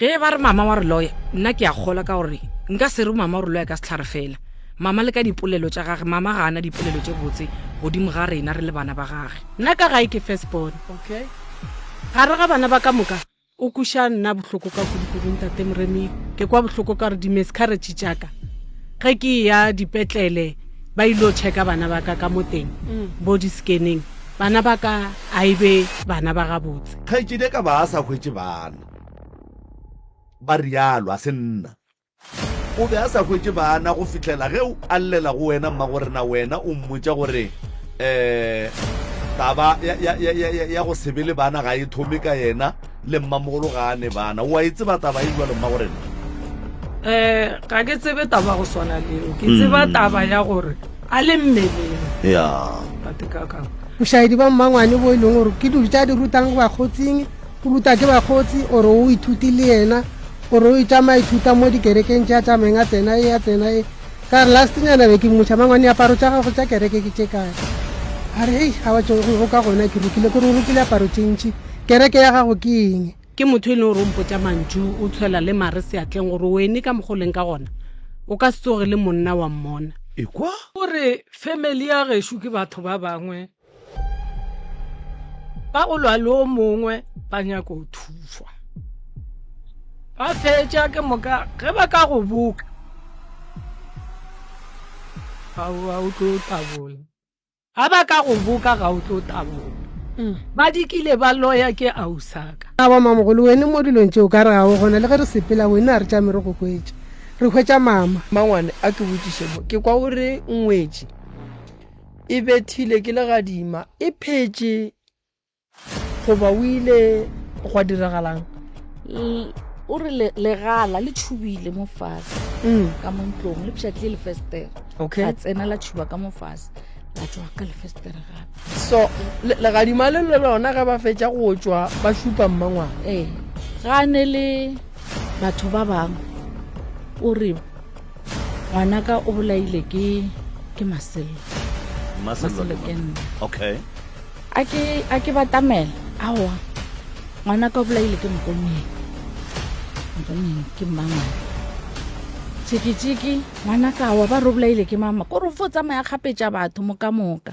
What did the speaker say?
Ge ba re mama wa re loya, nna ke a kgolwa ka gore nka se re mama o re loya ka sehlare fela. Mama le ka dipolelo tša gage, mama ga a na dipolelo tše botse godimo ga rena re le bana ba gage. Nna ka gae ke first born, gare ga bana ba ka moka o kweša nna bohloko ka kudu kudu ntate Moremi. Ke kwa bohloko ka gore di-miscarriage tša ka ge ke eya dipetlele ba ilo checka bana ba ka ka mo teng bo di-scanning, bana ba ka a e be bana ba gabotse. Kgaetšedi a ka ba a sa hwetše bana. Ba realo, a se nna. O be a sa hwetše baana go fihlela ge o a llela go wena, mmagorena, wena o mmotša gore, Ee, taba ya, ya, ya, ya, ya, ya go se be le baana ga e thome ka yena, le mmamogolo ga a ne baana. O a e tseba taba ye bjalo, mmagorena? Ee, ga ke tsebe taba ya go swana le yeo. Ke tseba mm. taba ya gore a le mmeleng. Ya. Batekakang. Bošaedi ba mmangwane bo e leng gore ke dilo tša di rutang go bakgotsing O ruta ke bakgotsi, o re o ithuti le yena, o re o itšama ithuta mo dikerekeng tša tša meng a tsena e, a tsena e. Ka re last nyana be ke mmotša, mangwane aparo tša gago tša kereke ke tše kae? A re hei, a batše go ka gona ke rukile, ke re o rukile aparo tše ntši, kereke ya gago ke eng? Ke motho e leng gore o mpotša mantšu, o tshwela le mare seatleng gore o eme ka mokgo o leng ka gona, o ka se tsoge le monna wa mmona. Ekwa! O re, Family ya gešo ke batho ba bangwe ba go lwa le o mongwe ba nyako go thuswa ba fetša ke moka ge ba ka go boka ga o tlo tabola ga ba ka go boka ga o tlo tabola mm. ba dikile ba loya ke ausaka a wa mamogolo wene mo dilong tšeo ka re ga o gona le ge re sepela wene a re tšame re go kwetša re hwetša mama mangwane a ke botšišemo ke kwa o re ngwetše e bethile ke legadima e phetše goba o ile gwa diragalang o re legala le tšhubile mo fase mm. ka mo ntlong le pšhatlile lefestere a tsena la tšhuba ka mo fase la tswa ka lefestere gape so legadima le le lona ge ba fetša go tswa ba šupa mmangwana ee ga ne le batho ba bangwe o re ngwanaka o bolaile ke ke masello masello ke nna okay a ke a ke batamela aowa ngwanaka o bolaile ke mokonyeng mokonyeng ke mmangwana tšhikitšhiki ngwanaka aowa ba re o bolaile ke mama kore o fo tsamaya kgapetša batho moka moka